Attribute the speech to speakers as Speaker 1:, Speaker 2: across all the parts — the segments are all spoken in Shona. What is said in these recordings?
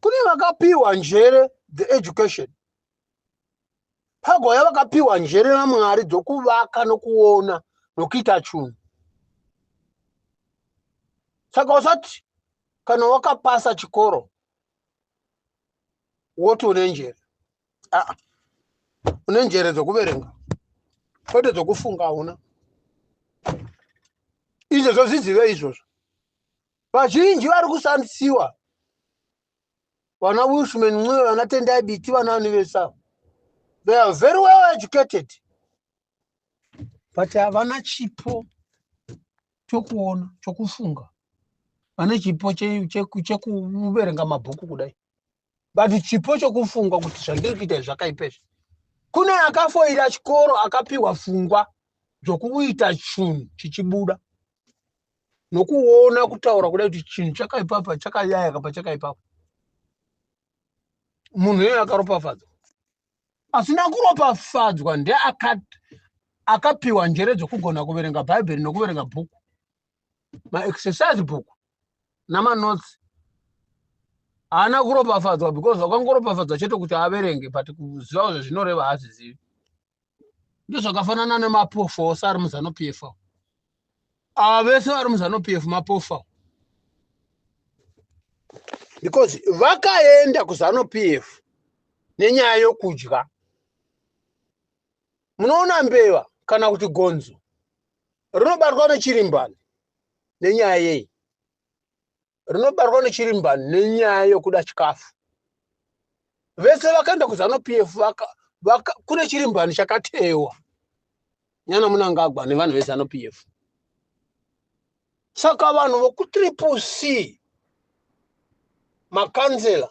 Speaker 1: kune vakapiwa njere the education pagwaya vakapiwa njere namwari dzokuvaka nokuona nokuita chunhu saka usati kana wakapasa chikoro woti une njere aa une njere dzokuverenga kwete dzokufunga hauna izvozvo zvizive izvozvo vazhinji vari kusandisiwa vana wilshman ncube vana tendai biti vana ani vese ava they are very well educated but havana chipo chokuona chokufunga vane chipo che- che- chekuverenga mabhuku kudai but chipo chokufunga kuti zvandiri kuita izvi zvakaipa izvi kune akafoira chikoro akapiwa fungwa zvokuita chunhu chichibuda nokuona kutaura kuda kuti chinhu chakaipapa chakayaya kapa chakaipapa munhu iyoyo akaropafadzwa asina kuropafadzwa ndeakapiwa njere dzokugona kuverenga bhaibheri nokuverenga bhuku maexercise bhuku namanotsi haana kuropafadzwa because wakangoropafadzwa chete kuti averenge but kuziva zvezvinoreva haazizivi ndozvakafanana nemapofu ose ari muzanupf avo ava vese vari muzanupf mapofu avo because vakaenda kuzanupf nenyaya yokudya munoona mbeva kana kuti gonzo rinobatwa nechirimbani nenyaya yei rinobarwa nechirimba nenyaya yokuda chikafu vese vakaenda kuzanu p f vaka, vaka, kune chirimbani chakatewa nyana munangagwa nevanhu vezanu p f saka vanhu vokutriple c makanzela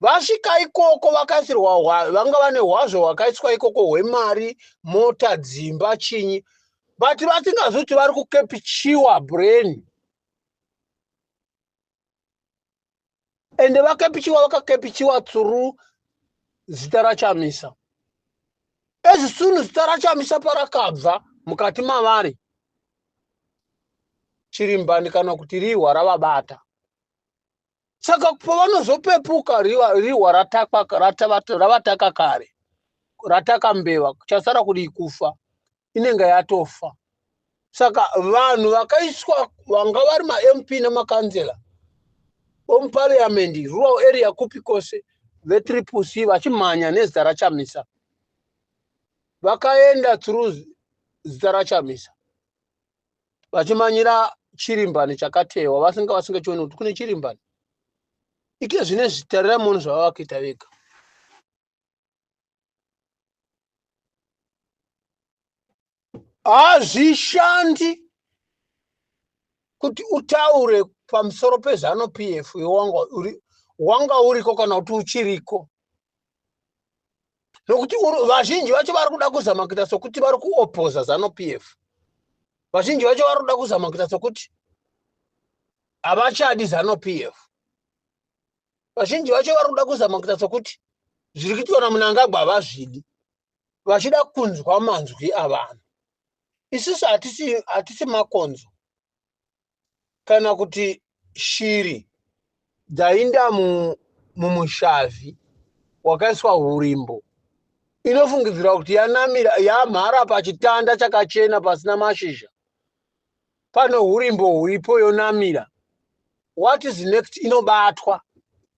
Speaker 1: Vasvika ikoko vakaisirwa hwa- vanga vane hwazvo hwakaiswa ikoko hwemari mota dzimba chinyi but vasingazivi kuti vari kukepichiwa brain ende vakepichiwa vakakepichiwa through zita rachamisa as soon zita rachamisa parakabva mukati mavari chirimbani kana kuti rihwa ravabata saka pavanozopepuka rihwa ravataka kare rataka mbeva chasara kudii kufa inenge yatofa saka vanhu vakaiswa vanga vari mamp nemakanzela omupariamendi rural area kupi kose vetriple c vachimhanya nezita rachamisa vakaenda through zita rachamisa vachimanyira chirimbani chakatewa vasinga vasingachioni kuti kune chirimbani ike zvine zvitarira muno zvavava kuita vega hazvishandi kuti utaure pamusoro pezanu p f wanga uriko kana kuti uchiriko nokuti vazhinji vacho vari kuda kuzama kuita sokuti vari kuopoza zano p f vazhinji vacho vari kuda kuzama kuita sokuti havachadi zano p f vazhinji vacho vari kuda kuzama kuita sokuti zviri kuitwa namunangagwa havazvidi vachida kunzwa manzwi avanhu isusu hatisi makonzo kana kuti shiri dzainda mumushavhi wakaiswa hurimbo inofungidzirwa kuti yanamira yamhara pachitanda chakachena pasina mashizha pano hurimbo huripo yonamira what is next inobatwa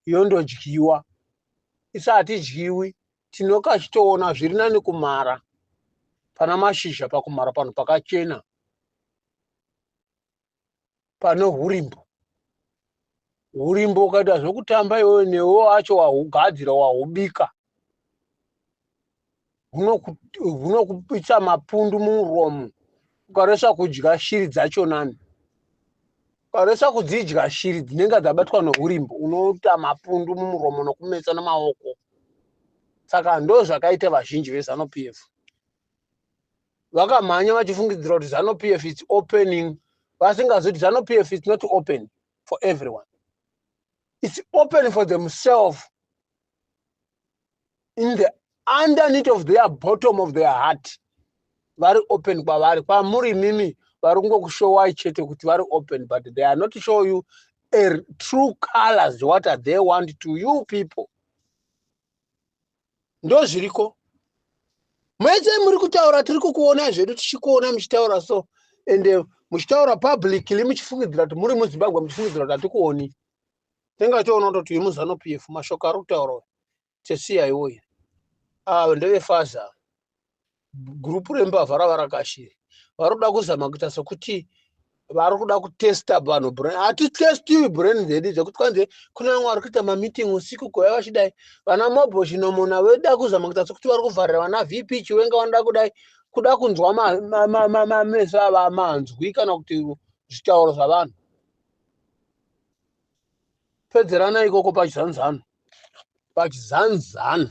Speaker 1: yondodyiwa isi hatidyiwi tinoka chitoona zviri nani kumara pana mashizha pakumara panhu pakachena pano hurimbo hurimbo ukaita zvekutamba iwewe newo acho wahugadzira wahubika hunokupitsa mapundu mumuromo ukaresa kudya shiri dzacho nani ukaresa kudzidya shiri dzinenge dzabatwa neurimbo unoita mapundu mumuromo nokumetsa nemaoko saka ndo zvakaita vazhinji vezanu p f vakamhanya vachifungidzira kuti zano p f its opening vasingazi kuti zano p f its not open for everyone its open for themselves in the underneath of their bottom of their heart vari open kwavari kwamuri imimi vari kungokushowai chete kuti vari open but they are not show you a true colors what are they want to you people ndozviriko mese muri kutaura tiri kukuonai zvedu tichikuona muchitaura so ende eh, muchitaura publicly muchifungidzira kuti muri muzimbabwe muchifungidzira kuti hatikuoni tingatoona kutoti uyu muzanu p f mashoko ari kutaura tesiya iwoyi ava ah, ndevefaza gurupu rembavha ravarakashiri vari kuda kuzama kuita sokuti vari kuda kutesta vanhu brain hatitestiwi brain dzedu dzekuti kwanzi kune vamwe vari kuita mameeting usiku kuya vachidai vana mobho chinomona veda kuzama kuita sokuti vari kuvharira vana vp chiwenga vanoda kudai kuda kunzwa mameso ava manzwi kana kuti zvitauro zvavanhu pedzerana ikoko pachizanzano pachizanzano